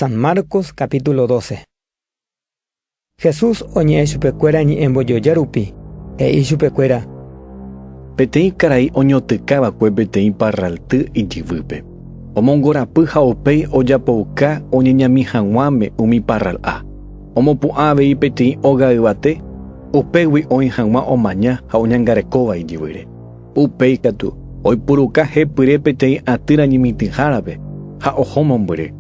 San Marcos capítulo 12. Jesús oñe'ẽ chupekuéra ñe'ẽmbojoja rupi, he'i chupekuéra. Peteĩ karai oñotỹka va'ekue peteĩ parralty ijyvýpe. Omongorapy ha upéi ojapouka oñeñami haguãme umi parral'a. Omopu'ã avei peteĩ óga yvate, upégui oĩ haguã omaña ha oñangarekóva ijyvýre. Upéi katu, oipuruka hepyre peteĩ atýra ñemitỹhárape ha oho mombyry,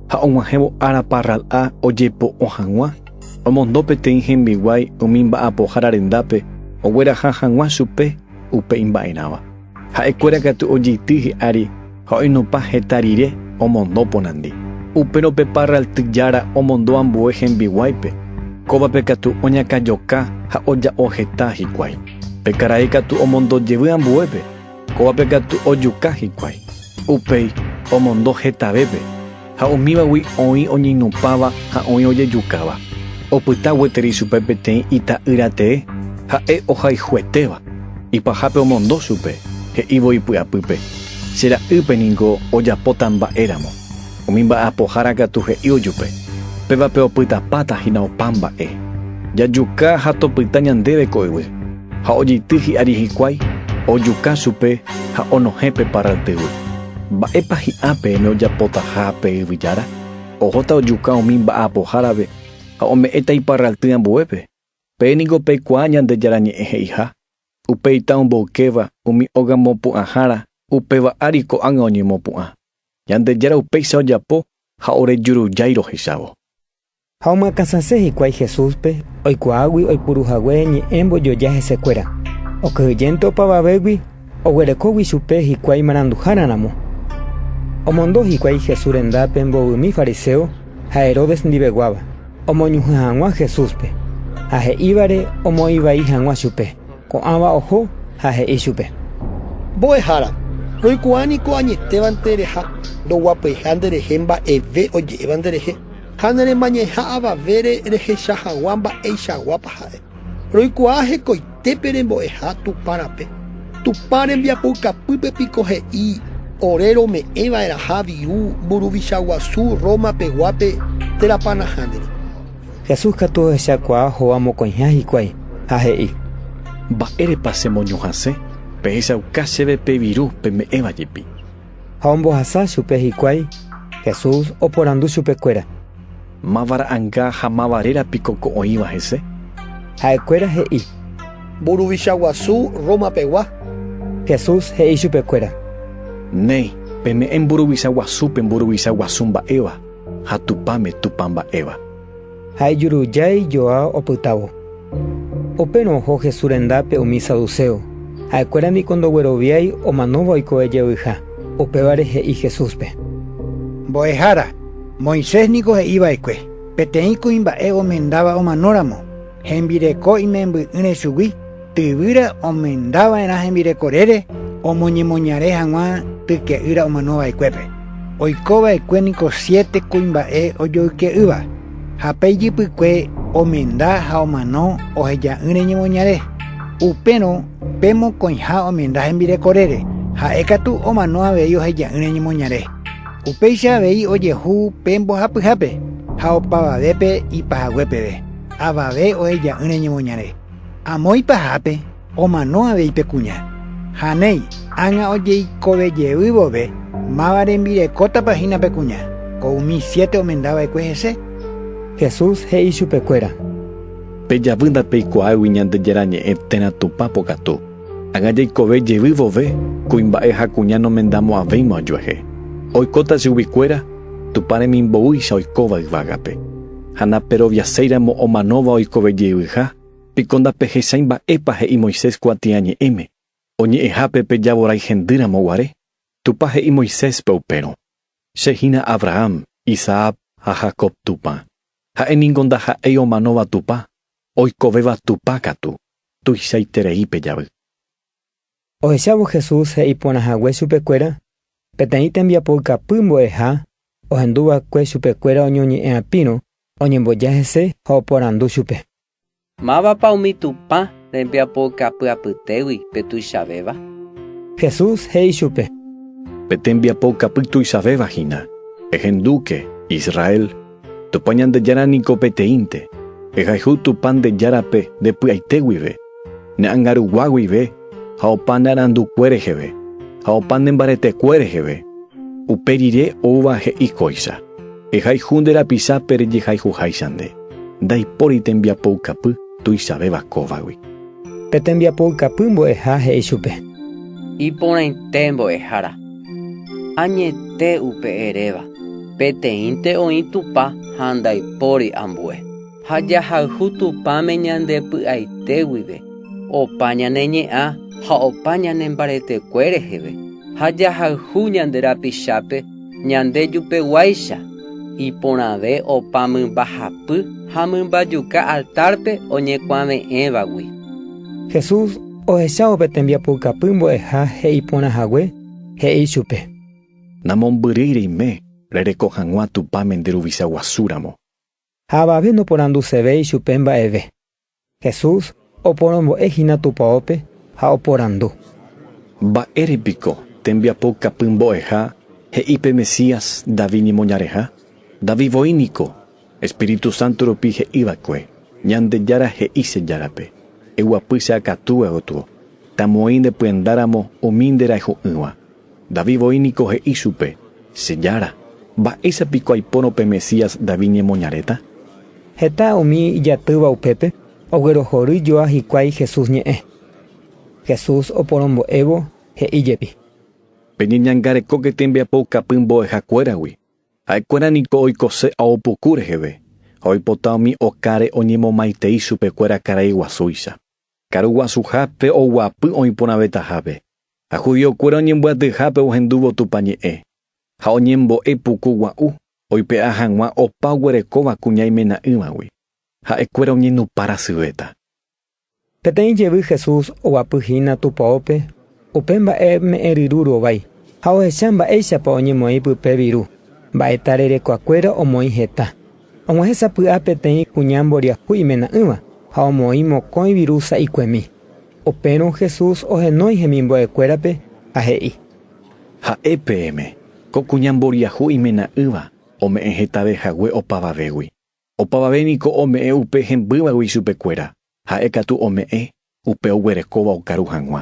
ha og̃uahẽvo ára parral'a ojepo'o hag̃ua, omondo peteĩ hembiguái umi mba'apohára rendápe ogueraha hag̃ua chupe upe imba'erãva. Ha'ekuéra katu ojeity hi'ári. Ha oinupã heta rire omondo porandi. Upérõ pe parralty jára omondo ambue hembiguáipe. Kóvape katu oñakãjoka ha oja'o heta hikuái. Pe karai katu omondo jevy ambuépe, kóvape katu ojuka hikuái. Upéi omondo hetavépe. Ha umívagui oĩ oñeñopãva ha oĩ ojejukáva. Opyta gueteri chupe peteĩ ita'ýra tee, ha'e ohayhuetéva. Ipahápe omondo chupe, he'ívo ipy'apýpe, Che ra'ýpe ningo ojapóta mba'éramo. Umi mba'apohára katu he'ívo jupe, Pévape opytapáta hína opa mba'e. Jajuka ha topyta ñandéve ko yvy. Ha ojeity hi'ári hikuái, ojuka chupe ha onohẽ pe parraltyvy. Mba'épa hi'a peẽme ojapotaha pe yvyjára? Ohóta ojuka umi mba'apohárape ha ome'ẽta iparralty ambuépe. Peẽ niko peikuaa Ñandejára Ñe'ẽ he'iha, Upeita omboykéva umi óga mopu'ãhára, upéva ári ko'ág̃a oñemopu'ã. Ñandejára upéicha ojapo ha ore jurujái rohechávo. Ha omyakãsase hikuái Jesúspe, oikuaágui oipuru hague ñe'ẽ mbojoja hesekuéra. Okyhyjénte opavavégui, oguerekógui chupe hikuái maranduhára ramo. Omondo hikuái Jesús rendápe mbovymi fariséo ha Herodes ndiveguáva, omoñuhẽ hag̃ua Jesúspe, ha he'ívare omoĩ vai hag̃ua chupe. Ko'ãva oho ha he'i chupe. Mbo'ehára, roikuaa niko añetévante reha ndoguapyha nderehe mba'eve oje'éva nderehe. Ha ne remañeha avavére rehecha hagua mba'eichaguápa ha'e. Roikuaa hekoite pe rembo'eha Tupã rape. Tupã rembiapoukapýpe piko he'i ore rome'ẽ va'erãha viru mburuvicha guasu Roma peguápe térãpa nahániri. Jesús katu ohechakuaa hóga mokõiha hikuái ha he'i. Mba'érepa che moñohasẽ pehechauka chéve pe viru peme'ẽva jepi. ha ombohasa chupe hikuái, Jesús oporandu chupekuéra: “Máva ra'anga ha máva réra piko ko oĩva hese?” Ha'ekuéra he'i: “Mburuvicha guasu Roma pegua.” Jesús he'i chupekuéra: “Néi, peme'ẽ mburuvicha guasúpe mburuvicha guasu mba'éva, ha Tupãme Tupã mba'éva.” Ha ijuruja ijoa opytávo. Upérõ oho Jesús rendápe umi saduceo, ha'ekuéra niko ndogueroviái omanóva oikove jevýiha. Upévare he'i Jesúspe: “Mbo'ehára, Moisés niko he'i va'ekue: ‘Peteĩ kuimba'e omendáva omanóramo, hembireko imemby'ỹre chugui’. Tyvýra omendava'erã hembirekorére omoñemoñare hag̃ua tyke'ýra omanova'ekuépe. Oikova'ekue niko siete kuimba'e ojoyke'ýva, ha pe ijypykue omenda ha omano oheja'ỹre ñemoñare. Upérõ pe mokõiha omenda hembirekorére, ha'e katu omano avei oheja'ỹre ñemoñare. Upéicha avei ojehu pe mbohapyhápe ha opavavépe ipahague peve, avave oheja'ỹre ñemoñare. Amo ipahápe omano avei pe kuña, ha néi, ág̃a ojeikove jey vove, máva rembirekótapa hína pe kuña, ko umi siete omenda va'ekue hese? Jesús he'i chupekuéra. Pe javy ndapeikuaáigui Ñandejára Ñe'ẽ térã Tupã pokatu. Ág̃a jeikove jey vove, kuimba'e ha kuña nomendamo aveima ojuehe. Oikóta chuguikuéra Tupã remimboúicha oikóva yvágape. ha naperoviaséiramo omanóva oikove jeyvyha, piko ndapehechái mba'épa he'i Moisés kuatiaña ñe'ẽme, oñe'ẽhápe pe javorái hendýramo guare? Tupã he'i Moiséspe upérõ, Che hína Abraham, Isaac ha Jacob Tupã. Ha'e ningo ndaha'éi omanóva Tupã, oikovéva Tupã katu, tuichaiterei pe javy. Ohechávo Jesús he'i porã hague chupekuéra, peteĩ tembiapo ikapy mbo'eha ohendu va'ekue chupekuéra oñoñe'ẽ'apírõ oñemboja hese ha oporandu chupe. Mávapa umi Tupã rembiapo ikapy apytégui pe tuichavéva? Jesús he'i chupe. Pe tembiapo ikapy tuichavéva hína, ehendúke, Israel, Tupã Ñandejára niko peteĩnte. Ehayhu Tupã nde Járape nde py'aite guive, ne angarugua guive ha opa ne arandukue reheve, ha opa ne mbaretekue reheve. Upe rire oúva he'i kóicha, Ehayhu nde rapichape rejehayhuháicha nde. Ndaipóri tembiapoukapy. tuichavéva kóvagui. Pe tembiapo ykapy mbo'eha he'i chupe. Iporãite mbo'ehára. Añete upe eréva, peteĩnte oĩ Tupã ha ndaipóri ambue. Ha jahayhu Tupãme ñande py'aite guive, opa ñane ñe'ã ha opa ñane mbaretekue reheve, ha jahayhu ñande rapichápe, Ñande jupeguáicha, iporãve opa mymbahapy ha mymbajuka altárpe oñekuave'ẽvagui. Jesús, ohechávo pe tembiapoukapy mbo'eha he'i porã hague, he'i ichupe. Namombyrýi reime rereko hag̃ua Tupã mende Ruvicha guasúramo. Ha avave noporandusevéi ichupe mba'eve. Jesús oporombo'e hína tupaópe ha oporandu. Mba'ére piko tembiapo kapy mbo'eha he'i pe Mesías David ñemoñareha? David voi niko Espíritu Santo rupi he'iva'ekue, Ñandejára he'i che Járape, Eguapy che akatúe gotyo, tamoĩ nde pyendáramo umi nde rayhu'ỹva. David voi niko he'i chupe, Che Jára, mba'éicha piko aipórõ pe Mesías David ñemoñaréta? Heta umi ijatýva upépe oguerohory joa hikuái Jesús ñe'ẽ. Jesús oporombo'évo he'i jepi. Peñeñangarekóke tembiapoukapy mbo'eha kuéragui. Ha'e kuéra niko oikose ao puku reheve, ha oipota umi okáre oñemomaitei chupe kuéra karai guasúicha. Karu guasuhápe oguapy oĩ porãvetahápe, ha judiokuéra oñembyatyhápe ohendúvo Tupã ñe'ẽ, ha oñembo'e puku gua'u oipe'a hag̃ua opa oguerekóva kuña imena'ỹvagui, ha'ekuéra oñenupãrasyvéta. Peteĩ jevy Jesús oguapy hína Tupaópe Upe mba'e me'ẽryru rovái ha ohecha mba'éichapa oñemoĩ pype viru. Mba'e tarerekuakuéra omoĩ heta. Og̃uahẽ sapy'a peteĩ kuña mboriahu imena'ỹva ha omoĩ mokõi viru sa'ikuemi. Upérõ Jesús ohenói hemimbo'ekuérape ha he'i. Ha'e peẽme, ko kuña mboriahu imena'ỹva ome'ẽ hetave hague opavavégui. Opavave niko ome'ẽ upe hembývagui chupekuéra, ha'e katu ome'ẽ upe oguerekóva okaru hag̃ua.